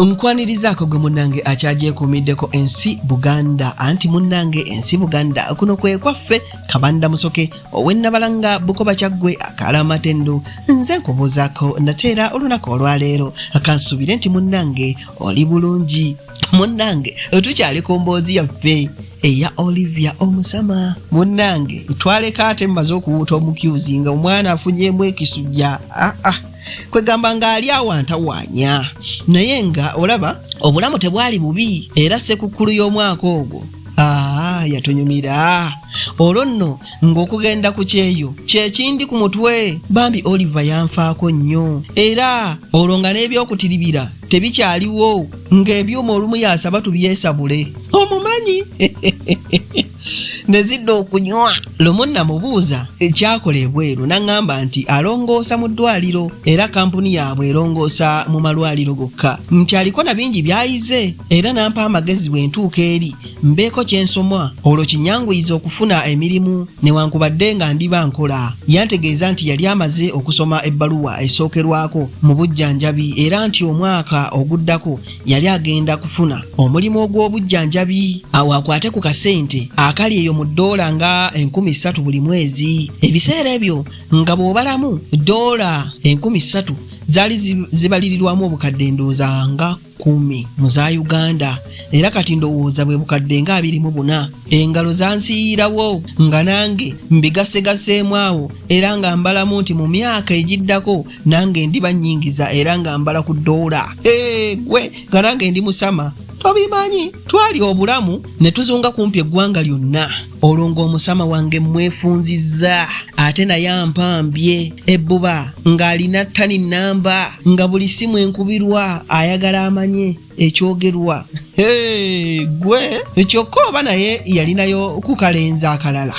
omukwaniriza ako gwe munnange akyagyekuumiddeko ensi buganda anti munnange ensi buganda kuno kwekwaffe kabanda musoke owennabalanga bukoba kyaggwe akaala amatendu nze nkubuuzaako nate era olunaku olwaleero kansuubire nti munnange oli bulungi munnange tukyali ku mboozi yaffe eya olivia omusama munnange twaleka ate mumaze okuwuuta omukyuzi nga omwana afunyemu ekisujja aa ah, ah. kwegamba ng'ali awantawanya naye nga olaba obulamu tebwali bubi era sekukkulu y'omwaka ogwo aa yatunyumira olwo nno ng'okugenda ku kyeyo kyekindi ku mutwe bambi oliva yanfaako nnyo era olwo nga n'ebyokutiribira tebikyaliwo ng'ebyuma olumu yasaba tubyesabule omumanyi ne zidda okunywa lumu namubuuza ekyakola ebweru n'aŋŋamba nti alongoosa mu ddwaliro era kampuni yaabwe erongoosa mu malwaliro gokka nti aliko na bingi by'ayize era n'ampa amagezi bwe ntuuka eri mbeeko kye nsomwa olwo kinyanguyiza okufuna emirimu newankubadde nga ndiba nkola yantegeeza nti yali amaze okusoma ebbaluwa esookerwako mu bujjanjabi era nti omwaka oguddako yali agenda kufuna omulimu ogw'obujjanjabi awo akwate ku kasente akali eyo mu ddoola nga enkumi ssatu buli mwezi ebiseera ebyo nga bw'obalamu ddoola enkumi ssatu zaali zibalirirwamu obukadde ndowooza nga kumi mu za uganda era kati ndowooza bwe bukadde nga abiri mu buna engalo zansiyiirawo nga nange mbigasegaseemu awo era nga mbalamu nti mu myaka egiddako nange ndi banyingiza era nga mbala ku doola gwe nga nange ndi musama tobimanyi twali obulamu ne tuzunga kumpi eggwanga lyonna olwo ng'omusama wange mwefunzizza ate naye ampambye ebbuba ng'alina ttani nnamba nga buli simu enkubirwa ayagala amanye ekyogerwa gwe kyokka oba naye yalinayo kukalenza akalala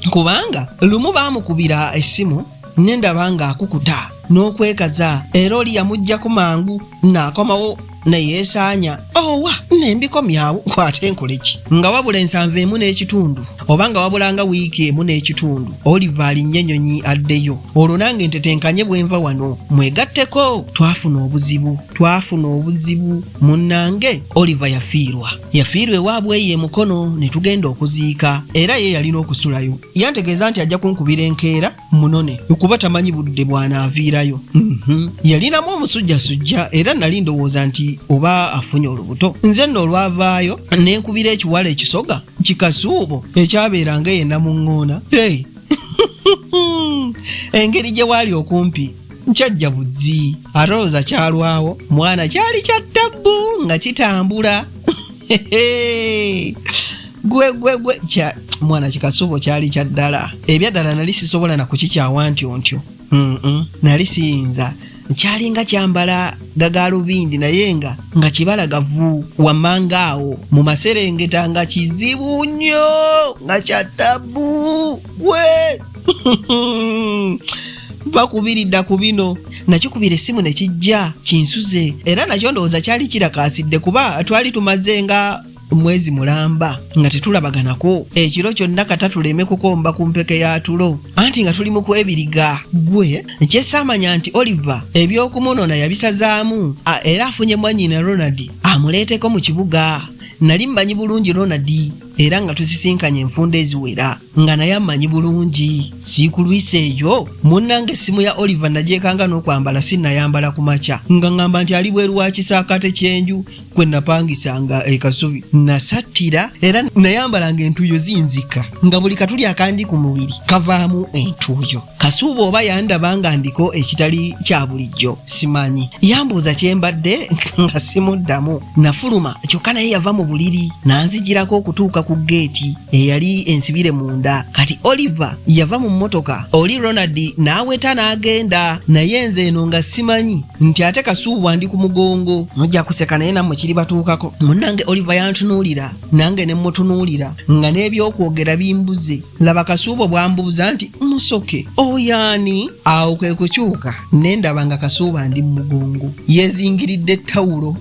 kubanga lumu baamukubira essimu ne ndaba ng'akukuta n'okwekaza era oli yamuggyako mangu naakomawo ne yeesaanya owa ne mbikomyawo kwate nkoleki nga wabula ensanvu emu n'ekitundu oba nga wabulanga wiiki emu n'ekitundu oliva alinnye ennyonyi addeyo olwo nange ntetenkanye bwe nva wano mwegatteko twafuna obuzibu twafuna obuzibu munnange oliva yafiirwa yafiirwa ewaabwe eyo emukono ne tugenda okuziika era ye yalina okusulayo yantegeeza nti ajja kunkubira enkeera munone okuba tamanyi budde bwanaaviirayo mhm. yalinamu omusujjasujja era nali ndowooza nti oba afunye olubuto nze nno olwavaayo nenkubira ekiwala ekisoga kikasuubo ekyabeeranga yena mu ŋŋoona engeri gye waali okumpi nkyajja buzzi alowooza kyalwawo mwana kyali kya ttabbu nga kitambula gwe gwe gwe kya mwana kikasubo kyali kya ddala ebyaddala nali sisobola na kukikyawa ntyo ntyo nali siyinza kyali nga kyambala gagaalubindi naye nga nga kibala gavu wammanga awo mu maserengeta nga kizibu nnyo nga kya ttabu gwe bakubiridda ku bino nakikubira essimu ne kijja kinsuze era nakyo ndowooza kyali kirakaasidde kuba twali tumaze nga mwezi mulamba nga tetulabaganako ekiro kyonna kata tuleme kukomba ku mpeke ya tulo anti nga tuli mu kwebiriga gwe ekyesaamanya nti oliver eby'okumunona yabisazaamu era afunye mwanyina ronald amuleeteko mu kibuga nali mmanyi bulungi ronald era nga tusisinkanye enfunda eziwera nga naye amanyi bulungi siikulwisa eyo munnanga essimu ya oliver nagyekanga n'okwambala sinnayambala ku makya nga ŋŋamba nti ali bweru wa kisaakaate ky'enju kwe napangisanga e Kasubi nasattira era nayambalanga entuuyo zinzika nga buli katuli akandi ku mubiri kavaamu entuuyo kasuuba oba yandaba nga ndiko ekitali kya bulijjo simanyi yambuuza kye mbadde nga simuddamu nafuluma kyokka naye yava mu buliri nanzijirako okutuuka ku geeti eyali ensibire munda kati oliver yava mu mmotoka oli ronald n'aweta n'agenda naye nze eno nga simanyi nti ate kasuubwa ndi ku mugongo mujja kuseka naye nammwe kiri batuukako munnange oliva yantunuulira nange ne mmutunuulira nga n'ebyokwogera bimbuze laba kasuubwa bwambuuza nti musoke oyaani awo kwe kukyuka ne ndaba nga kasuuba ndi mu mugongo yezingiridde ettawulo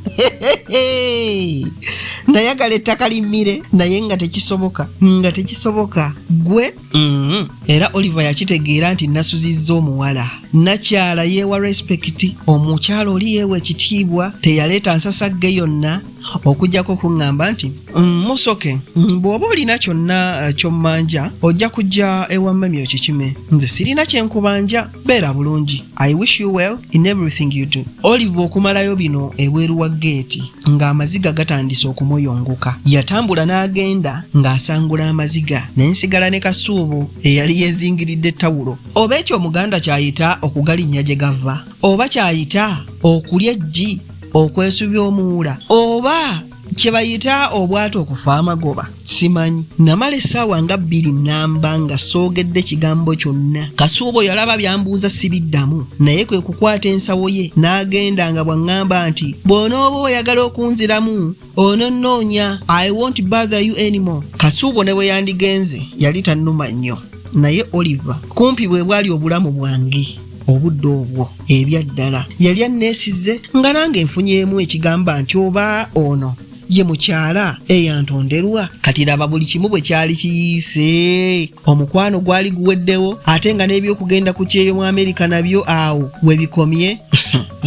nayagala ettaka limmire naye nga tekisoboka nga tekisoboka gwe Mm-hmm. era oliver yakitegeera nti nasuzizza omuwala nakyala yeewa respekiti omukyala oli yeewa ekitiibwa teyaleeta nsasagge yonna okujjako okuŋŋamba nti mm, musoke mm, bw'oba olina kyonna eh, kyommanja ojja kujja ewa mmami okikime nze sirina kyenkubanja beera bulungi i wish you well in everything you do olive okumalayo bino ebweru wa geeti ng'amaziga gatandise okumuyunguka yatambula n'agenda ng'asangula amaziga naye nsigala ne kasuubu eyali yezingiridde tawulo oba ekyo omuganda kyayita okugalinnya gye gava oba kyayita okulya eggi okwesubya omuwula oba kyebayita obwatu okufa amagoba simanyi namala essaawa nga bbiri namba nga soogedde kigambo kyonna kasuubo yalaba byambuuza sibiddamu naye kwe kukwata ensawo ye n'agenda nga bw'aŋŋamba nti bw'onooba oyagala okunziramu ononnoonya i won't bother you anymore kasuubo ne bwe yandigenze yali tannuma nnyo naye oliver kumpi bwe bwali obulamu bwange obudde obwo ebyaddala yali anneesizze nga nange nfunyeemu ekigamba nti oba ono ye mukyala eyantonderwa kati laba buli kimu bwe kyali kiyiise omukwano gwali guweddewo ate nga n'ebyokugenda ku kyeyo mu amerika nabyo awo we bikomye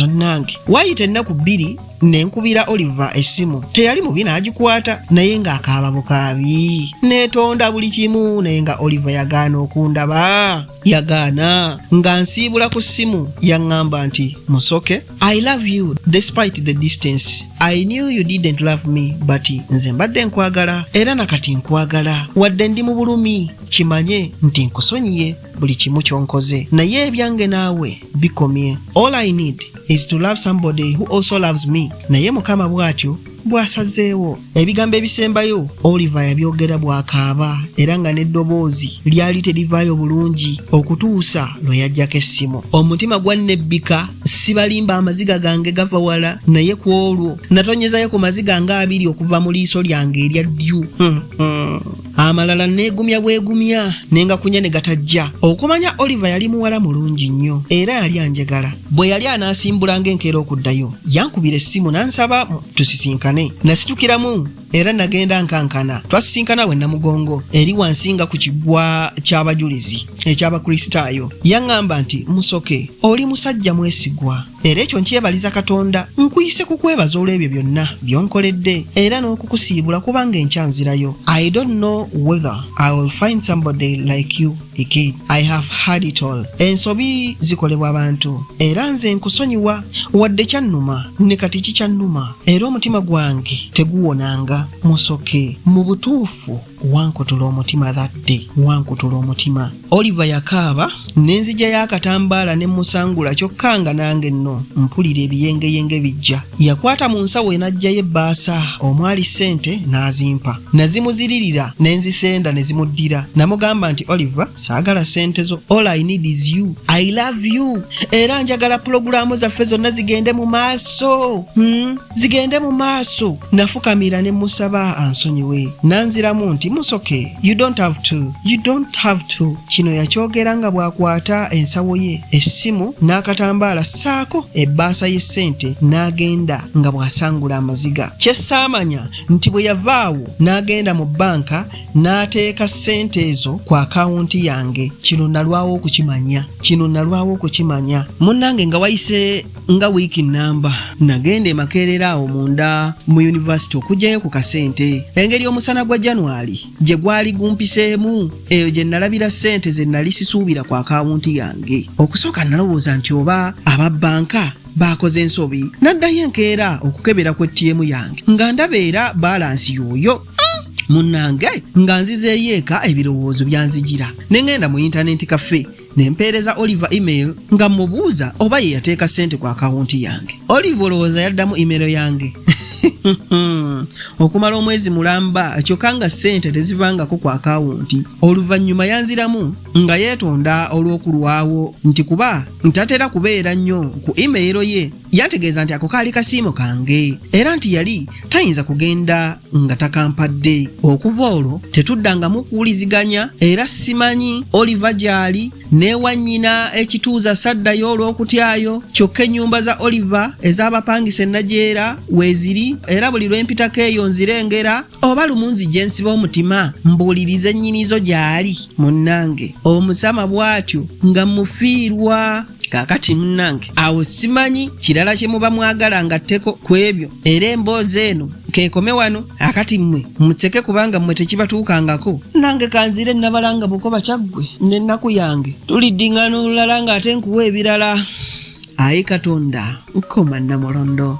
onnange waayita ennaku bbiri nenkubira oliver essimu teyali mubi n'agikwata naye ng'akaaba bukaabi neetonda buli kimu naye nga oliver yagaana okundaba yagaana nga nsiibula ku ssimu yaŋŋamba nti musoke i love you despite the distance i knew you didn't love me but nze mbadde nkwagala era na kati nkwagala wadde ndi mu bulumi kimanye nti nkusonyiye buli kimu ky'onkoze naye ebyange naawe bikomye all i need is to love somebody who also loves me naye mukama bw'atyo bwasazeewo ebigambo ebisembayo oliver yabyogera bwakaaba era nga n'eddoboozi lyali terivaayo bulungi okutuusa lwe yajjako essimu omutima gwannebbika sibalimba amaziga gange gava wala naye ku olwo natonyezayo ku maziga nga abiri okuva mu liiso lyange erya ddyu hmm, hmm. amalala neegumya bwegumya nengakunya ne gatajja okumanya oliver yali muwala mulungi nnyo era yali anjegala bwe yali anaasimbulanga enkeera okuddayo yankubira essimu n'ansaba tusisinkane nasitukiramu era nagenda nkankana twasisinkana we namugongo eri wansi nga ku kiggwa ky'abajulizi eky'abakristaayo yaŋŋamba nti musoke oli musajja mwesigwa era ekyo nkyebaliza katonda nkuyise kukwebaza olw'ebyo byonna byonkoledde era n'okukusiibula kubanga enkyanzirayo i don't know whether i will find somebody like you again i have had it all ensobi zikolebwa abantu era nze nkusonyiwa wadde kyannuma ne kati kikyannuma era omutima gwange teguwonanga musoke mu butuufu wankutula omutima that day wankutula omutima oliver yakaaba nenzija y'akatambaala ne musangula kyokka nga nange nno mpulira ebiyengeyenge bijja yakwata mu nsawo enajjayo ebbaasa omwali ssente n'azimpa nazimuziririra ne nzisenda ne zimuddira namugamba nti oliver saagala ssente zo all i need is you i love you era njagala pulogulaamu zaffe zonna zigende mu maaso hmm? zigende mu maaso nafukamira ne musaba ansonyiwe nanziramu nti musoke you don't have to you don't have to kino yakyogera nga bw'akwata ensawo ye essimu n'akatambaala ssaako ebbaasa y'essente n'agenda nga bw'asangula amaziga kye saamanya nti bwe yavaawo n'agenda mu bbanka n'ateeka ssente ezo ku akawunti yange kino nalwawo okukimanya kino nalwawo okukimanya munnange nga wayise nga wiiki nnamba nagenda emakeerera awo munda mu yunivasite okugyayo ku kasente engeri omusana gwa january gye gwali gumpiseemu eyo gye nalabira ssente ze nali sisuubira ku akawunti yange okusooka nalowooza nti oba aba bbanka baakoze ensobi naddayo enkeera okukebera ku ettiemu yange nga ndaba era baalansi yooyo munnange nga nzizeeyo eka ebirowoozo byanzijira ne ŋŋenda mu yintanenti kafe ne mpeereza Oliver email nga mmubuuza oba ye yateeka ssente ku akawunti yange. Oliver olowooza yaddamu email yange? Okumala omwezi mulamba kyokka nga ssente tezivangako ku akawunti. Oluvannyuma yanziramu nga yeetonda olw'okulwawo nti kuba ntatera kubeera nnyo ku email ye Yantegeeza nti ako kaali kasiimo kange era nti yali tayinza kugenda nga takampadde. Okuva olwo tetuddangamu kuwuliziganya era simanyi Oliver gy'ali n'ewa nnyina ekituuza saddayo olw'okutyayo kyokka ennyumba za Oliver ez'abapangisa ennajeera weeziri era buli lwe mpitako eyo nzirengera oba lumunzi gye nsiba omutima mbuuliriza ennyinizo gy'ali munnange omusama bw'atyo nga mufiirwa kaakati munnange awo simanyi kirala kye muba mwagala ngatteko ku ebyo era emboozi eno keekome wano akati mmwe mutseke kubanga mmwe tekibatuukangako nange kanziire nnabalanga bukoba kyaggwe n'ennaku yange tulidding'ana olulala ng'ate nkuwa ebirala ayi katonda nkoma nnamulondo